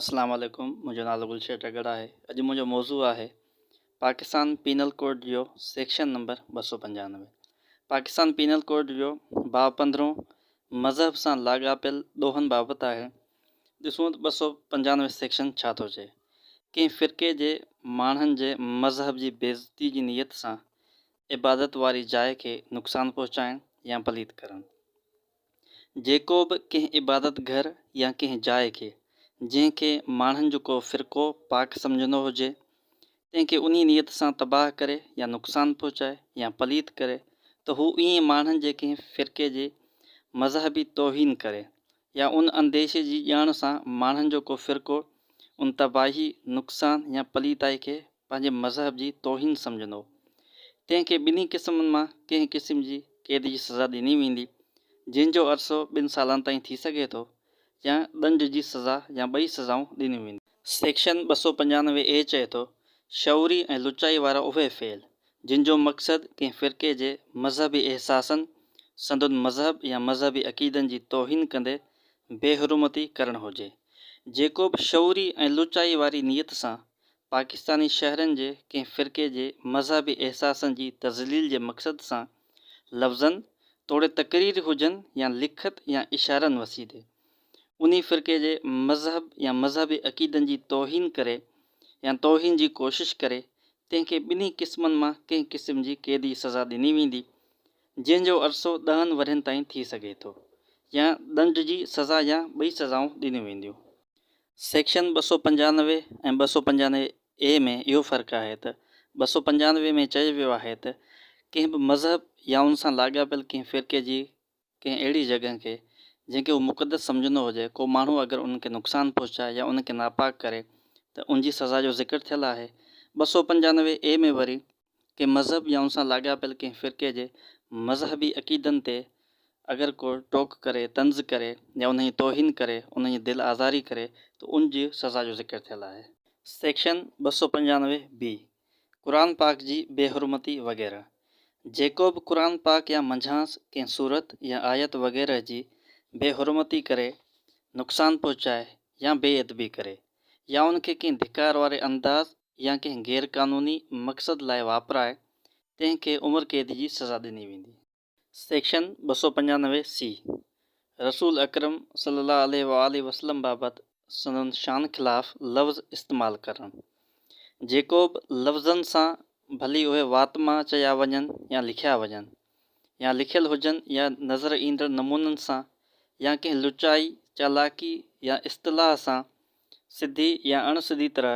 اسلام عليڪم منهنجو نالو گل شير ڊگهڙ آهي اڄ منهنجو موضوع آهي پاڪستان پينل ڪوڊ جو سيڪشن نمبر ٻه سؤ پنجانوي پاڪستان پينل ڪوڊ جو باب پندرهون مذهب سان لاڳاپيل ڏوهن بابت آهي ڏسون ته ٻه سؤ پنجانوي سيڪشن ڇا ٿو چئي ڪنهن فرقي جي ماڻهن جي مذهب جي بيعزتي جي نيت سان عبادت واري جاء کي نقصان پهچائڻ يا پليت ڪرڻ جيڪو به ڪنهن عبادت گهر يا ڪنهن جاء کي، جنهن کي ماڻهن جو ڪو فرقو پاڪ سمجهندو هجي، تنهن کي انهيء نيت سان تباهه ڪري يا نقصان پهچائي يا پليت ڪري ته هو ائين ماڻهن جي ڪنهن فرقي جي مذهبي توهين ڪري يا ان انديشي جي ڄاڻ سان ماڻهن جو ڪو فرقو ان تباهي، نقصان يا پليتائي کي پنهنجي مذهب جي توهين سمجهندو. تنهن کي ٻنهي قسمن مان ڪنهن قسم جي قيد جي سزا ڏني ويندي، جنهن جو عرصو ٻن سالن تائين ٿي سگهي ٿو، يا ڏنڊ جي سزا يا ٻئي سزائون ڏنيون وينديون. سيڪشن ٻه سؤ پنجانوي اي چئي ٿو، شعوري ۽ لچائي وارا اهي فعل، جن جو مقصد ڪنهن فرقي جي مذهبي احساسن، سندن مذهب يا مذهبي عقيدن جي توهين ڪندي بي حرمتي ڪرڻ هجي. جيڪو به شعوري ۽ لچائي واري نيت سان پاڪستاني شهرين جي ڪنهن فرقي جي مذهبي احساسن جي تذليل جي مقصد سان لفظن توڙي تقرير هجن يا لکت يا اشارن وسيلي انهي فرقي جي مذهب يا مذهبي عقيدن جي توهين ڪري يا توهين جي ڪوشش ڪري تنهن کي ٻنهي قسمن مان ڪنهن قسم جي قيدي سزا ڏني ويندي جنهن جو عرصو ڏهن ورهين تائين ٿي سگهي ٿو يا ڏنڊ جي سزا يا ٻئي سزائون ڏنيون وينديون. سيڪشن ٻه سؤ پنجانوي ۽ ٻه سؤ پنجانوي اي ۾ اهو فرق آهي ته ٻه سؤ پنجانوي ۾ چيو ويو آهي ته ڪنهن به مذهب يا ان سان لاڳاپيل ڪنهن فرقي جي ڪنهن اهڙي جڳهه کي جنهن کي هو مقدس سمجهندو هجي ڪو ماڻهو اگر ان کي نقصان پهچائي يا ان کي ناپاڪ ڪري ته ان جي سزا جو ذڪر ٿيل آهي ٻه سؤ پنجانوي اي ۾ وري ڪنهن مذهب يا ان سان لاڳاپيل ڪنهن فرقي جي مذهبي عقيدن تي اگر ڪو ٽوڪ ڪري، طنز ڪري يا انهن جي توهين ڪري، انهن جي دل آزاري ڪري ته ان جي سزا جو ذڪر ٿيل آهي. سيڪشن ٻه سؤ پنجانوي بي، قرآن پاڪ جي بي حرمتي وغيره، جيڪو به قرآن پاڪ يا منجهانس ڪنهن سورت يا آيت وغيره جي بي حرمتي ڪري، نقصان پهچائي يا بي ادبي ڪري يا ان کي ڪنهن ڌڪار واري انداز يا ڪنهن غير قانوني مقصد لاء واپرائي تنهن کي عمر قيد جي سزا ڏني ويندي. سيڪشن ٻه سؤ پنجانوي سي رسول اڪرم صلي الله عليه وآله وسلم بابت سندن شان خلاف لفظ استعمال ڪرڻ، جيڪوبه لفظن سان ڀلي اهي وات مان چيا وڃن يا لکيا وڃن يا لکيل هجن يا نظر ايندڙ نمونن سان يا ڪنهن لچائي، چالاڪي يا اصطلاح سان سڌي يا اڻ سڌي طرح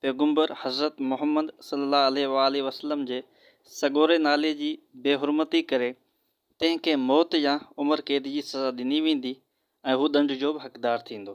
پيغمبر حضرت محمد صلي الله عليه وآله وسلم جي سڳوري نالي جي بي حرمتي ڪري تنهن کي موت يا عمر قيد جي سزا ڏني ويندي ۽ هو ڏنڊ جو به حقدار ٿيندو.